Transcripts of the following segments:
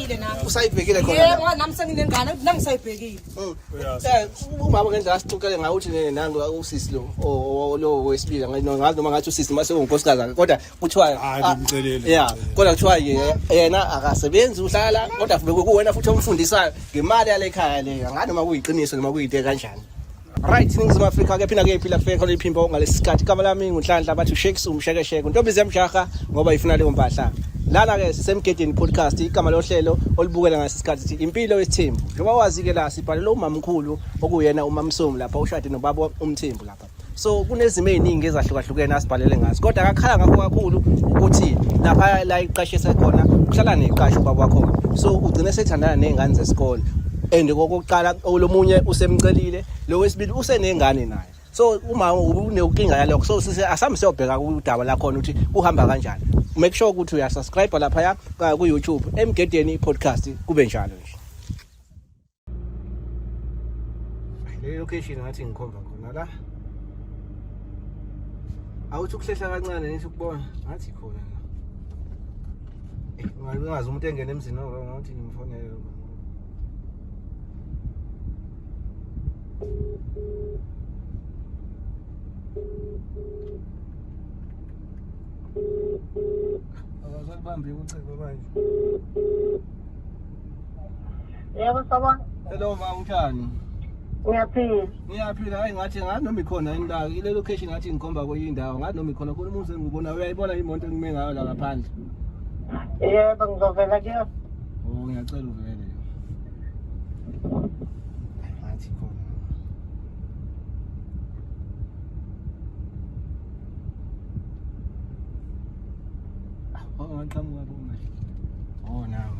ngisayibhekile nami usayibhekile khona yebo nami senginengane nami ngisayibhekile oh, eh, umama ngendlela asixoxele ngayo uthi nene nangu usisi lo lo wesibili ngathi noma ngathi usisi mase ungunkosikazi kodwa kuthiwa hayi ah, ngimcelele yeah kodwa kuthiwa yena akasebenzi uhlala kodwa futhi kuwena futhi omfundisayo ngemali yale khaya leyo ngani noma kuyiqiniso noma kuyinte kanjani Right, Ningizimu Afrika ke phina ke iphila kufike khona iphimbo ngalesikhathi. Igama lami nguNhlanhla bathi uShakes umshekesheke. Ntombi zemjaha ngoba ifuna leyo mpahla. Lana ke sisemgedeni podcast igama lohlelo olibukela ngase sikhathi sithi impilo yesithembu. Njengoba wazi ke la sibhalela umamkhulu okuyena umamsomu lapha ushade nobaba umthembu lapha. So kunezimo eziningi ezahlukahlukene asibhalele ngazo. Kodwa akakhala ngakho kakhulu ukuthi lapha la iqashe sekhona uhlala neqashe ubaba wakho. So ugcine sethandana nezingane zesikole. and kokuqala lomunye usemcelile lo wesibili usenengane naye so uma unenkinga yalokho so sise asambe siyobheka kudaba lakhona ukuthi kuhamba kanjani make sure ukuthi uyasubscribe lapha ku YouTube emgedeni podcast kube njalo nje le location ngathi ngikhomba khona la awuthi ukuhlehla kancane nithi ukubona ngathi khona la eh, ungazi umuntu engena emzini ngathi ngimfonele Abazakubambi ucingo manje. Yebo sabona. Hello ma unjani? Ngiyaphila. Ngiyaphila hayi ngathi ngathi noma ikhona indawo ile location ngathi ngikhomba kwenye indawo ngathi noma ikhona khona umuntu engibona uyayibona imoto engime ngayo la ngaphandle. Yebo ngizovela kuyona. Oh ngiyacela uvele. Athi khona. Waqhamuka boma. Oh nawe.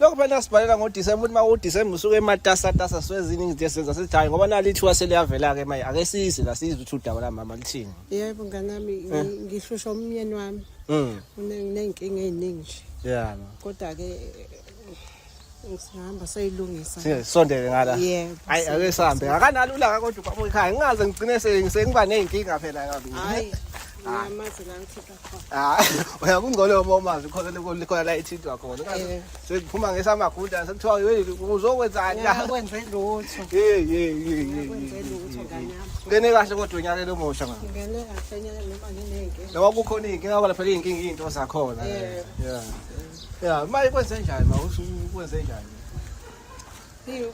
lokho phela nasibhalela ngoDisemba ukuthi uma uDisemba usuke ematasatasa swezini ngithi senza sithi hayi ngoba nali ithuba seliyavela-ke manje ake size la sizwe ukuthi udaba lamama lithini yebo nganami eh. ngihlusha umyeni wami mm. unenkinga ey'ningi nje ya kodwa-ke Sihamba sayilungisa. Siye sondele ngala. Yebo. Hayi ake sihambe. Akanalula ka kodwa ubaba ekhaya. Ngingaze ngigcine sengiba nezinkinga phela kabi. Hayi. Ngiyamazi la ngithe Ah, uya kungcono uma umazi khona likhona la ethintwa khona. Eh. Sekuphuma ngesamagunda sekuthiwa yini uzokwenzani la? Kwenze lutho. Hey hey hey. Kwenze lutho nganyama. Ngene kahle kodwa unyaka lo mosha ngani? Ngene kahle nyaka noma ngineke. Noma kukhona inkinga ngoba phela inkinga into zakhona. Eh. Yeah. Yeah, maye kwenze njani ma usukwenze njani? Hey.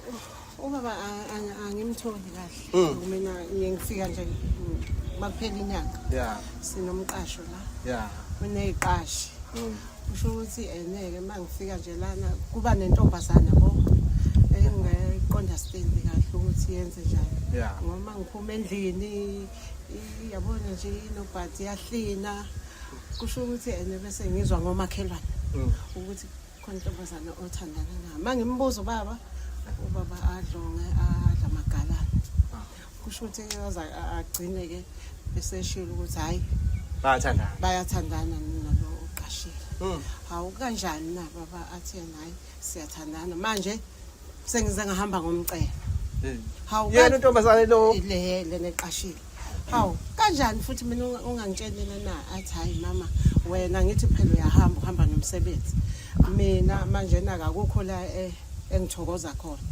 Ubaba angimtholi kahle. Hmm. Mina ngiye ngifika nje makuphela inyanga. Yeah. Sinomqasho la. Yeah. Uneziqashi. Hmm. Usho ukuthi eneke eh, mangifika nje lana kuba nentombazana bo. Engiqonda stendi kahle ukuthi yenze njani. Yeah. Ngoma ngiphuma endlini yabona nje inobhathi yahlina. Kusho ukuthi ene eh, bese ngizwa ngomakhelwane hmm. ukuthi khona intombazane othandana nayo uma ngimbuza ubaba ubaba adlonge adla amagalana ah. kusho ukuthi yoza agcine-ke eseshilo ukuthi hhayi bayathandana bayathandana nalo uqashile hmm. hawu kanjani na baba athi yena hhayi siyathandana manje sengize ngahamba ngomcela hmm. hawu yena untombazane lo le lena eqashile hawu kanjani futhi mina ungangitshelile na athi hayi mama wena ngithi phela uyahamba uhamba nomsebenzi mina manje na akukho la eh, engithokoza khona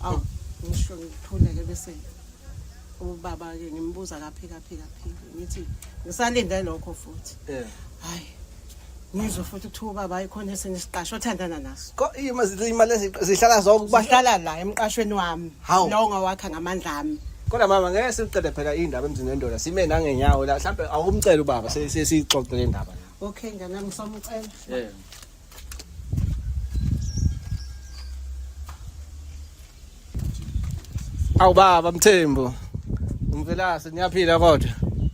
awu ngisho ngithuleke bese ubaba-ke ngimbuza kaphika phika phika ngithi ngisalinde lokho futhi hayi ngizwe futhi kuthiwa ubaba ayikhona esinye isiqasho othandana naso Ko- ima- zi- imali ezi- zihlala zonke kuba bahlala la emqashweni wami Hawu. lowo ngawakha ngamandla ami kodwa mama ngeke siqede phela indaba emzini wendoda sime nangenyawo la mhlawumbe awumcela ubaba se- se- siyixoxe le ndaba la okay nganami ngisamucela yeah. Awu baba Mthembu. Umvelase niyaphila kodwa.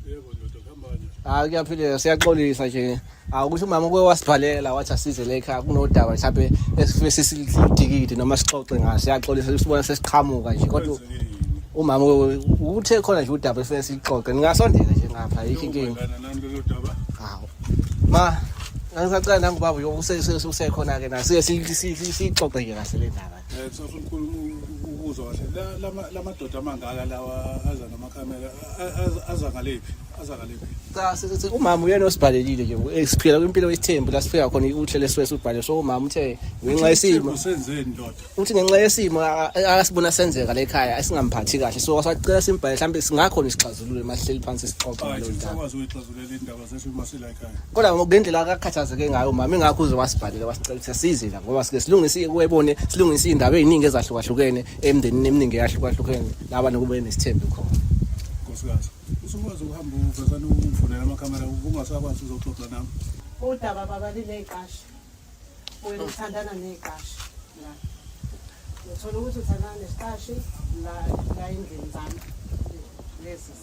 Yebo ndoda kambani. Hayi kuyaphileka siyaxolisa nje. Awukusho umama uke wasibhalela wathi asize la ekhaya kunodaba mhlawumbe esifisa sidikide noma sixoxe ngaso. Siyaxolisa usibona sesiqhamuka nje kodwa umama uthe khona nje udaba esifuna sixoxe. Ningasondela nje ngapha yikho inkinga. Hawu. Ma ngisacela nangubaba uyokusekhona ke na siye sixoxe nje kahle le ndaba. Eh, kusafuna ukukhulu ukuzwa kahle la madoda amangaka lawa aza namakhamera aza ngalephi aza ngalephi cha sithi umama uyena osibhalelile nje eh, siphila kwimpilo yesithembu la sifika khona uhle leswesu ubhale so umama uthe ngenxa yesimo senzeni ndoda uthi ngenxa yesimo asibona senzeka la ekhaya asingamphathi kahle so wasacela simbhale mhlawumbe singakhona isixazululo emahleli phansi sixoxa ngalo ndaba kodwa ngendlela akakhathazeke ngayo mama ingakho uze wasibhalela wasicela ukuthi asize la ngoba sike silungise webone silungise iy'ndaba ey'ningi ezahlukahlukene emndenini eminingi eyahlukahlukene laba nokube nesithembe khona nkosikazi usukwazi ukuhamba uvesane uvulele amakhamera ungasakwazi uzoxoxa nami udaba baba lineyiqasha wena uthandana neyiqasha la uthola ukuthi uthandana nesiqashi la endlini zami lezi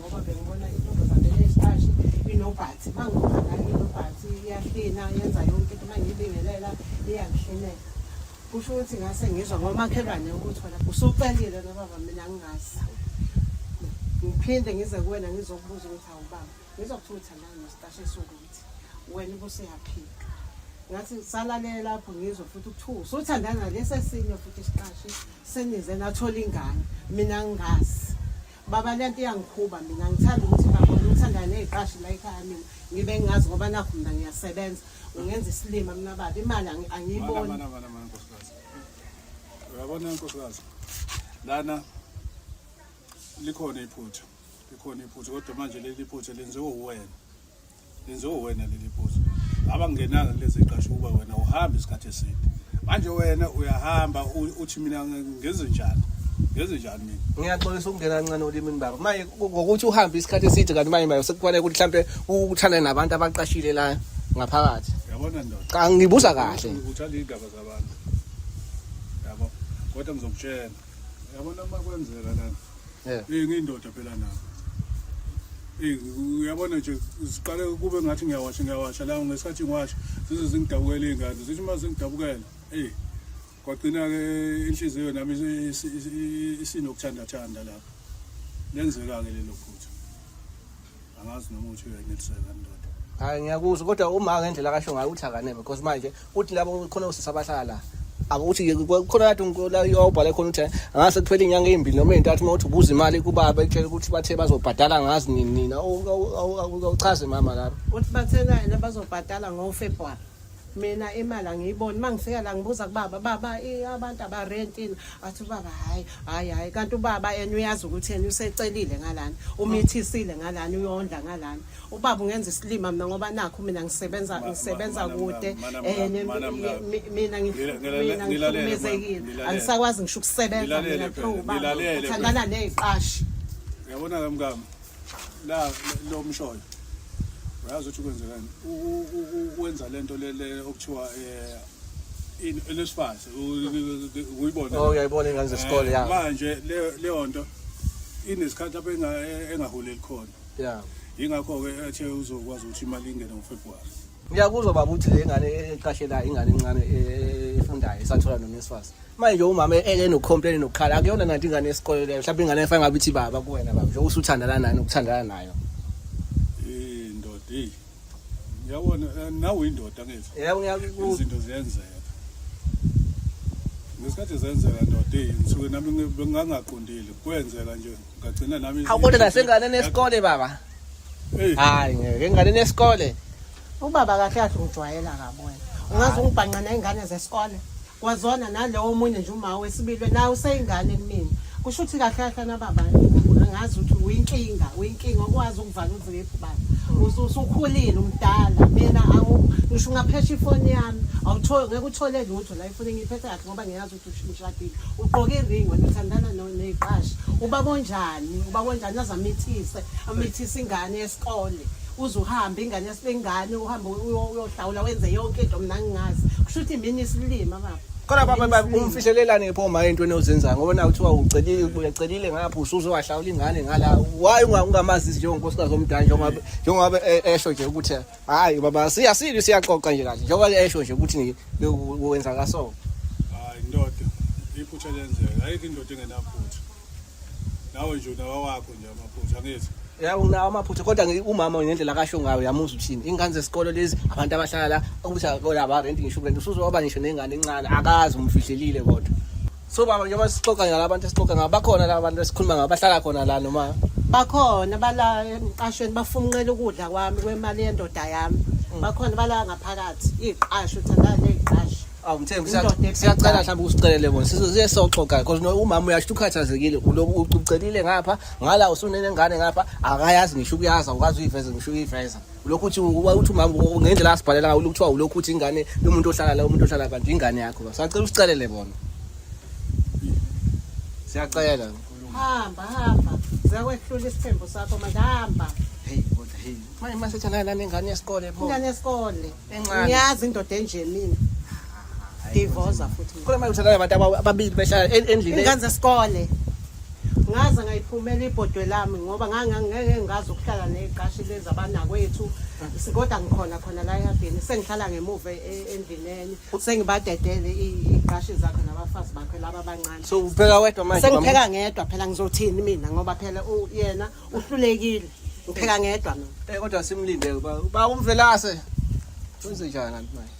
ngoba bengibona intombazane eyesitashi inobhathi uma ngibona inobhathi iyahlina yenza yonke into uma ngiyibingelela iyangihlinela kusho ukuthi ngase ngizwa ngomakhelwane ukuthi wena usucelile nobaba mina ngingazi ngiphinde ngize kuwena ngizokubuza ukuthi awubaba ngizokuthutha la nesitashe esiwukuthi wena ubuseyaphila ngathi salalele lapho ngizwe futhi ukuthiwa usuthandana lesi esinye futhi isiqashi senize nathola ingane mina ngingazi baba lento iyangikhuba mina ngithanda ukuthi babone uthanda neziqashi la ekhaya mina ngibe ngingazi ngoba nakho mina ngiyasebenza ungenza isilima mina baba imali angiyiboni uyabona nkosikazi lana likhona iphutha likhona iphutha kodwa manje leli phutha lenziwe uwena lenziwe wena leli phuzu ngaba ngingenanga kulezi qasho ukuba wena uhamba isikhathi eside manje wena uyahamba uthi mina ngezinjani ngezinjani mina ngiyaxolisa ukungena kancane olimini baba maye ngokuthi uhambe isikhathi eside kanti manje maye sekufanele ukuthi mhlampe uthane nabantu abaqashile la ngaphakathi yabona ndoda cha ngibuza kahle uthanda indaba zabantu yabo kodwa ngizokutshela yabona uma kwenzeka lana eyi ngiyindoda phela nabo eyi uyabona nje ziqale kube ngathi ngiyawasha ngiyawasha la ngesikhathi ngiwasha zize zingidabukela iy'ngane zithi uma zingidabukela eyi kwagcina-ke inhliziyo nami isinokuthandathanda lapho lenzeka-ke lelo phutha angazi noma uthi uyaneliseka kanti ndoda hayi ngiyakuzwa kodwa uma ngendlela akasho ngayo uthi akaneme because manje uthi labo khona usisi abahlala la akuthi khona kade ngikola yobhale khona ukuthi angase kuphele inyanga ezimbili noma ezintathu uma uthi ubuza imali kubaba ekutshela ukuthi bathe bazobhadala ngazi nini nina awuchaze mama lapho uthi bathekani abazobhadala ngofebruary mina imali angiyiboni uma ngifika la ngibuza kubaba baba abantu abarentini athi ubaba hhayi hhayi hhayi kanti ubaba yena uyazi ukuthi yena usecelile ngalana umithisile ngalana uyondla ngalana ubaba ungenza isilima mina ngoba nakho mina ngisebenza ngisebenza kude um mina ngihlukumezekile angisakwazi ngisho ukusebenza mina through ubaba uthandana ney'qashi yabona-ke mkami la lo mshoyo uyazi ukuthi kwenzekani ukwenza lento lele okuthiwa eh in elesifase uyibona oh uyayibona ingane zesikole eh, ya manje leyo nto inesikhathi lapho engahuleli khona ya ingakho ke ethe uzokwazi ukuthi imali ingene ngoFebruary ngiyakuzwa baba ukuthi le ngane eqashela ingane encane e- efundayo esathola nonesifasi manje umama e- e- enocomplain nokukhala akuyona nanti ingane yesikole leyo mhlawumbe ingane efanele ngabe ithi baba kuwena baba njengoba usuthandana nayo nokuthandana nayo Eh ndoda hey. Yabona eh, nawe indoda ngithi. yebo ngiyakuzwa Izinto ziyenzeka. Ngesikhathi zenzeka ndoda hey ngisuke nami ngi- bengangaqondile kwenzeka nje. Ngagcina nami. Hawu kodwa nasenganeni esikole baba. Hey. Hayi ngeke enganeni esikole. Ubaba kahle kahle ungijwayela kabi wena. Ungaze ungibhanqa nezingane zesikole. Kwazona nalowo omunye nje uma wesibili nawe useyingane kumina. Kusho ukuthi kahle kahle nababa ngazi ukuthi uyinkinga, uyinkinga okwazi ukuvala uziphi baba. Usukhulile umdala. Mina awu ngisho ungaphesha ifoni yami. Awutholi ngeke uthole lutho la ifoni ngiphethe kahle ngoba ngiyazi ushadile ugqoke iring wena uthandana neqashi ubaba onjani ubaba onjani aze amithise amithise ingane yesikole uze uhambe ingane yasibengane uhambe uyohlawula wenze yonke into mina ngingazi kusho ukuthi mina isilima baba Kodwa baba baba umfihlelelane pho ma into enozenza ngoba na uthiwa ucelile uyacelile ngapha usuze wahlawula ingane ngala why ungamazi njengonkosikazi omdala njengoba njengoba e, esho nje ukuthi hayi baba siya sili siyaxoxa nje kahle njengoba esho nje ukuthi wenza kaso hayi indoda iphutha lenzeka ayikho indoda engenaphutha nawe nje unawa wakho nje amaphutha angithi ya unawo amaphutha kodwa umama ngendlela kasho ngayo yamuza uthini ingane zesikole lezi abantu abahlala la ukuthi akola ba rent ngisho rent usuzoba ngisho nengane encane akazi umfihlelile kodwa so baba njengoba sixoxa ngala abantu esixoxa ngabo bakhona laba bantu esikhuluma ngabo bahlala khona la noma bakhona bala emqashweni bafunqela ukudla kwami kwemali yendoda yami mm. bakhona bala ngaphakathi iqasho uthanda leqasho awumthembi siyacela mhlawumbe usicelele bona sizoziye soxoxa because umama uyasho ukhathazekile uloku ucelile ngapha ngala usunene ngane ngapha akayazi ngisho ukuyaza ukazi uyiveza ngisho uyiveza lokhu uthi uthi umama ngendlela asibhalela ngayo kuthiwa ulokhu uthi ingane lomuntu ohlala la umuntu ohlala kanti ingane yakho sacela usicelele bona siyacela hamba hamba zakwehlula isithembu sakho manje hamba hey kodwa hey manje masethana nani ingane yesikole pho ingane yesikole encane ngiyazi indoda enje mina divorce futhi khona manje uthandana abantu ababili behlala endlini ingane zesikole ngaze ngayiphumela ibhodwe lami ngoba ngangeke ngazi ukuhlala neziqashi lezi abanakwethu kodwa ngikhona khona la ehabheni sengihlala ngemuva e, e, endlineni sengibadedele iziqashi zakhe nabafazi bakhe laba abancane so upheka wedwa manje sengipheka ngedwa phela ngizothini mina ngoba phela yena uhlulekile ngipheka ngedwa mina eh kodwa simlinde ba umvelase wenze njani manje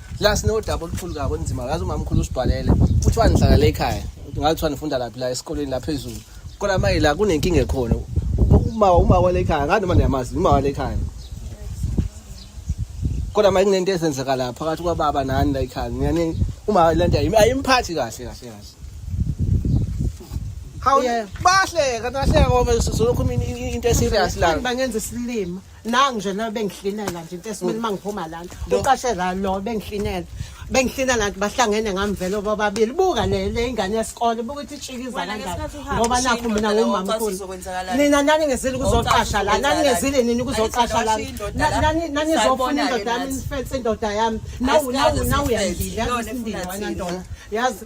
la sinodaba olukhulu kabi olunzima yazi umamkhulu usibhalele kuthiwa nihlala le ekhaya ngathi kuthiwa nifunda laphi la esikoleni laphezulu kodwa manje la kunenkinga ekhona uma uma wale ekhaya ngathi noma niyamazi uma wale ekhaya kodwa manje kunento ezenzeka la phakathi kwababa nani la ekhaya ngiyani uma lento ayimphathi kahle kahle kahle Hawu bahleka nahleka ngoba sizokhuluma into eserious la. Bangenza isilima. nangi nje lo bengihlinela nje into esimele uma ngiphuma lana uqashe la lo bengihlinela bengihlinela nti bahlangene ngamvelo bobabili buka le le ingane yesikole buka ukuthi itshikiza Wena kanjani ngesikhathi uhamba ngoba nakho ushiye mina indoda leyo, ngumama wazi mkhulu kuzokwenzakalani. nina naningezile kuzoqasha la Wazi naningezile nini kuzoqasha la Ayizokwazi indoda la. nanizofuna Sayibona-ke indoda yami nathi. nifense indoda yami nawu nawu Asikhaze nawu sifense. uyangile Lona yazi efuna isindini wena thina. ndoda yazi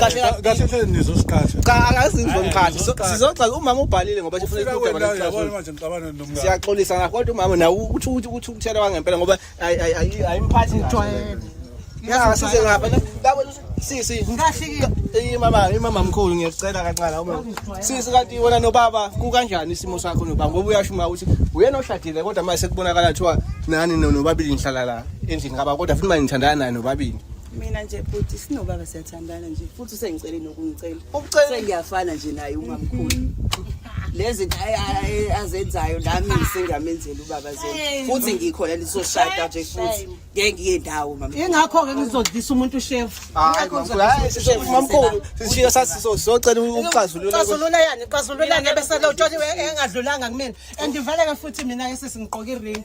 kahle kahle hle nizosiqhatha cha angazi ngizomqhatha sizoxoxa umama ubhalile ngoba sifuna ukudaba lesixazululo manje ngixabana nomngane siyaxolisa ngakho kodwa umama nawe uthi uthi uthi ukuthela kwangempela ngoba ayimphathi ngijwayele ya size ngapha labo sisi ngikahlika imama imama mkhulu ngiyacela kancane uma sisi kanti wena nobaba kukanjani isimo sakho nobaba ngoba uyasho uma ukuthi uyena oshadile kodwa mase kubonakala kuthiwa nani nobabili nihlala la endlini ngaba kodwa futhi manje nithandana naye nobabili mina nje bhuti sinobaba siyathandana nje futhi usengicele nokungicela sengiyafana nje naye umamkhulu lezi azenzayo nami sengamenzela ubaba zenu futhi ngikhona nizoshada nje futhi ngeke ngiye ndawo mama ingakho-ke ngizodlisa umuntu ushefu mamkhulu sishiya sasizocela uxazululaxazulula yani xazululani ebesele utsholiwe engadlulanga kumina and ivaleke futhi mina-ke sesingiqoke iringi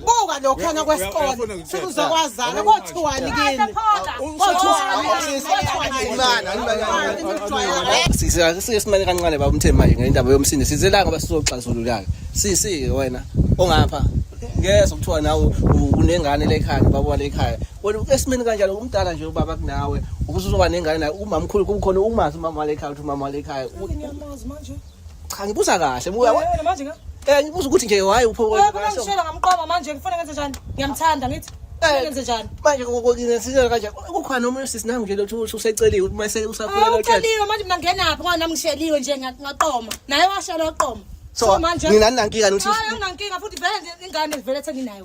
buka lokhana kwesikole sekuzokwazana kothiwani kini sike simane kancane baba umthembu manje ngendaba yomsindo sizela ngoba sizoxazululaka sisi wena ongapha ngezwa kuthiwa nawe unengane lekhanda baba walekhaya wena esimeni kanjalo umdala nje ubaba kunawe ukuze uzoba nengane naye umamkhulu kukhona umazi umama walekhaya ukuthi umama walekhaya Cha ngibuza kahle buya. Yena manje nga. Eh ngibuza ukuthi nje why upho. Wewe kona ngishela ngamqoma manje ngifuna ngenze njani? Ngiyamthanda ngithi. Eh. Ngenze njani? Manje ngizenzela kanje kukhona omunye sisi nami nje lothu useceliwe ukuthi mase usakhula lothu. Uceliwe manje mina ngena phi ngoba nami ngisheliwe nje ngaqoma. Naye washela waqoma. So manje mina ninankinga nokuthi. Hayi nginankinga futhi vele ingane vele senginayo.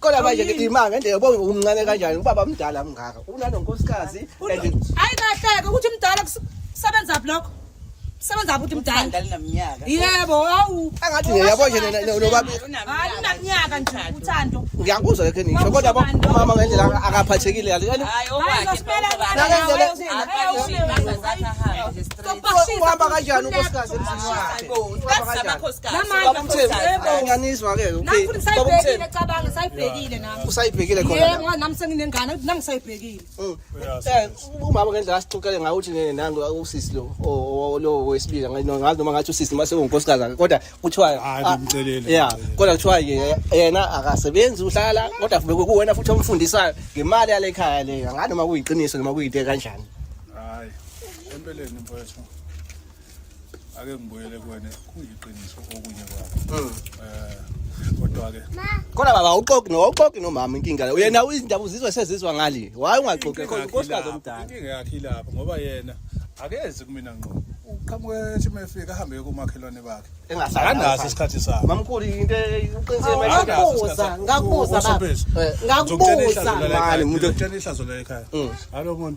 Kodwa manje ke imanga nje yabo umncane kanjani ubaba mdala mngaka. Unanonkosikazi and Hayi kahleke ukuthi mdala kus- kusebenza blokho. Kusebenza ukuthi mdala. Ngidala naminyaka. Yebo, awu. angathi nje yabo nje nina- nina- nobaba Hayi unaminyaka nje uthando. ngiyakuzwa ke ngisho kodwa bo- umama ngendlela aka- akaphathekile yani. Hayi Hayi, okwakhe. zosimela Okwakhe. ngane, Nakenzele- Hayi, Hayi, ushilo, hayi, hayi. uhamba kanjani unkosikazi emzini wakhe uhamba kanjani nganizwa ke usayibhekile khona nami senginengane nami sayibhekile mm. eh, umama ngendlela asixoxele ngayo ukuthi nangu usisi lo lo wesibili ngathi noma ngathi usisi mase ungunkosikazi kodwa kuthiwa ah, ya kodwa kuthiwa yena akasebenzi uhlala kodwa futhi kuwena futhi omfundisayo ngemali yale khaya le nganoma kuyiqiniso noma kuyinte kanjani Empeleni mfowethu ake ngibuyele kuwena kuyiqiniso okunye kwakho. Mm. Eh kodwa ke Kodwa baba awuxoki no awuxoki nomama inkinga le. Uyena izindaba uzizwa sezizwa ngale. Why ungaxoki khona unkosikazi omdala? Inkinga yakhe ilapho ngoba yena akezi kumina ngqo. Uqhamuke ethi mefika ahambe komakhelwane bakhe. Engasazi. Anaso isikhathi sakhe. Mamkhulu into uqinisele manje. Ngakubuza, ngakubuza baba. Ngakubuza. Mali umuntu otshena ihlazo la ekhaya. Hallo mona.